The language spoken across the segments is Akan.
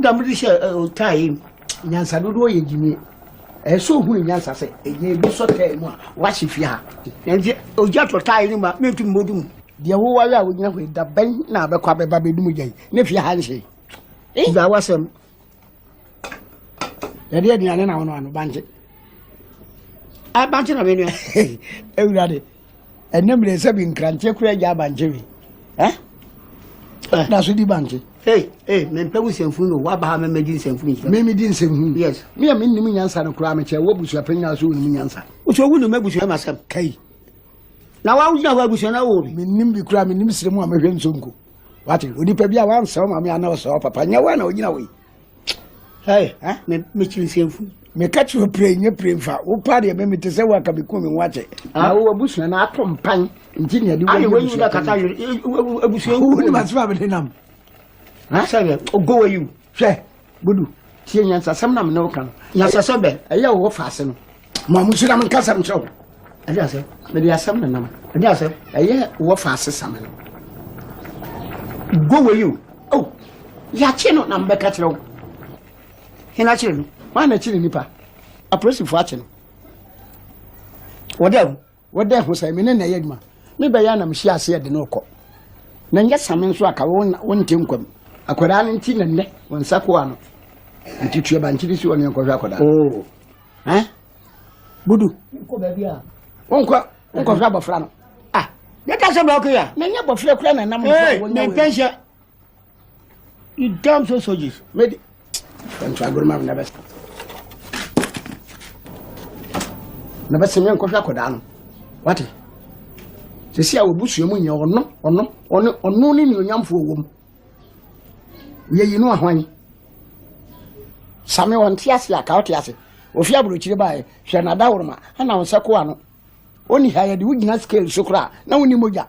Dɛm de hyɛ ɔtaa yi nyansa dodoɔ yɛ gyimie. Ɛyɛ sɛ ohunu nyansa sɛ ɛyɛ ebi sɔ taa mu a wahye fie ha. Nanti ogya tɔ taa yi no ma mentumi mɔdu mu. Deɛ woware a wogyina hɔ yi da bɛn na abɛkɔ abɛba bɛdu mu gya yi ne fie ha nhye. Gya wasɛm. Yɛde aduane na wɔn ano bankye. Bankye na menua. Awurade. ɛnɛ mmerɛ sɛ bi nkrantɛ kura agya abankye we eh? eh. na so di bankye Hey, hey, me mpe nsɛmfunu no waba ha mɛmɛ di nsɛmfunu nhyira. Me me di nsɛmfunu. Yes. Me a me nim nyansa no koraa me kyɛ wɔ busua pɛ nyinaa so wonim nyansa. Nso wo nim abusua ma sɛm. Kai. Na wa wogyina hɔ abusua na wo bi. Me nim bi koraa me nim srɛ mu a mehwɛ nsonko. Wate, onipa bi a wansa wo maame ana ɔsɛ wo papa nyɛ wo na wogyina wo yi. Hey, eh? Me, me chinsenfu. Me catch your pray, nye pray fa. Wo pa de me me te se wa ka me ku me wache. Ah, wo abusu na ato mpan. Nti ne de wo. Ayi wo yu na kata yo. Abusu en. Wo ni ma sfa be nam. Ha? Sebe, o go you. Hwe, budu. Tie nyansa sem na me ne wo ka no. Nyansa sebe. Eya wo fa ase no. ma mo hyira me nkasɛm kyerɛ wo ɛde asɛ mede asɛm ne nam ɛde asɛ ɛyɛ wɔfa asesa me no go wei o o yɛakye no na mbɛka kyerɛ wo hena kyerɛ no wana kyerɛ nipa apolisifoɔ akye no wɔde awu wɔda ɛho sɛ me ne na ɛyɛ adwuma me bɛyɛ na mehyia aseɛ de no kɔ na nyɛ same nso aka wonte nkwam akwadaa no nti na nnɛ wɔn nsa koa no nti tua bankyere si wɔne nkɔhwɛ akwadaa oh. eh? budu wonkɔ wonkɔhwɛ abɔfra no ah. yɛka sɛ brɛ ɔkɔyɛ na nyɛ bɔfrɛ kora na nam ne pɛnhyɛ You damn so soldiers. Made. Don't try good man never. Never see me and coffee akɔdaa no. Wate? Sisi a wɔbusua mu nyɛ ɔno ɔno ɔno ɔno ne nuonyamfoɔ wɔ mu. Yɛyi no ahwan. Same wɔn te ase a ka ɔte ase. Ofi aburokyire baeɛ hwɛ n'adaworoma ɛna wɔn sɛ koa no. Ɔni ha yɛde wogyina scale so koraa na wonni mogya.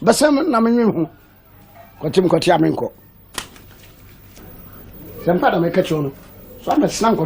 bɛsɛm no na menwen ho kɔte mekɔte a menkɔ sɛ mpa na meka kyerɛ no so amɛsena nkɔhwɛ